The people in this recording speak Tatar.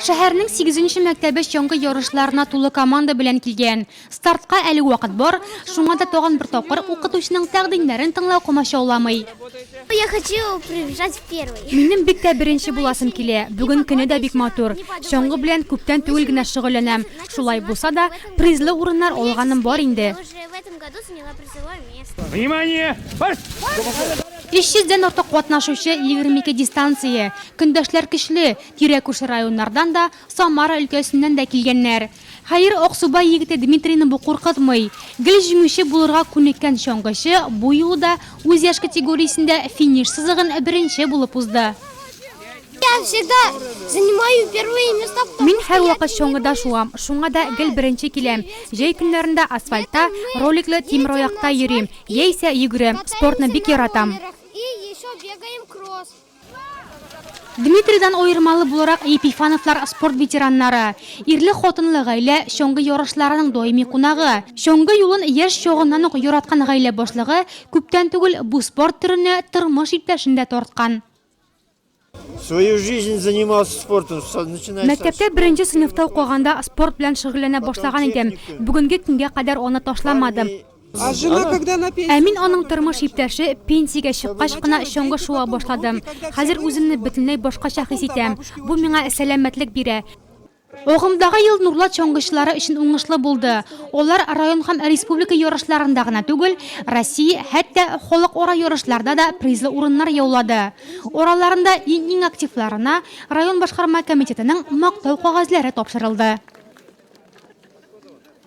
Шәһәрнең сигезенче мәктәбе чаңгы ярышларына тулы команда белән килгән. Стартка әле вакыт бар, шуңа да тагын бер тапкыр укытучының тәкъдимнәрен тыңлау комачауламый. Я хочу прибежать в первый. Минем бик тә беренче буласым килә. Бүген көне дә бик матур. Чаңгы белән күптән түгел генә шөгыльләнәм. Шулай булса да, призлы урыннар алганым бар инде. Внимание! Марш! 300 дән артык катнашучы, 22 дистанция. Көндәшләр көчле, тирә-күрше районнардан да, Самара өлкәсеннән дә килгәннәр. Хәер, Аксубай егете Дмитрийны бу куркытмый. Гел җиңүче булырга күнеккән чаңгычы бу юлы да үз яшь категориясендә финиш сызыгын беренче булып узды. Мин һәрвакыт чаңгыда шуам, шуңа да гел беренче киләм. Җәй көннәрендә асфальтта, роликлы тимераякта йөрим, яисә йөгерәм, спортны бик яратам. Дмитрийдан аермалы буларак, Епифановлар спорт ветераннары, ирле-хатынлы гаилә, чаңгы ярышларының даими кунагы. Чаңгы юлын яшь чагыннан ук яраткан гаилә башлыгы күптән түгел бу спорт төренә тормыш иптәшен дә тарткан. Свою жизнь занимался спортом. Мәктәптә беренче сыйныфта укыганда спорт белән шөгыльләнә башлаган идем. Бүгенге көнгә кадәр аны ташламадым. А жена когда на пенсии? Ә мин аның тормыш иптәше пенсиягә чыккач кына чоңгы шуа башладым. Хәзер үземне бөтенләй башкача хис итәм. Бу миңа сәламәтлек бирә. Агымдагы ел Нурлат чаңгычылары өчен уңышлы булды. Алар район һәм республика ярышларында гына түгел, Россия, хәтта халыкара ярышларда да призлы урыннар яулады. Араларында иң-иң активларына район башкарма комитетының Мактау кәгазьләре тапшырылды.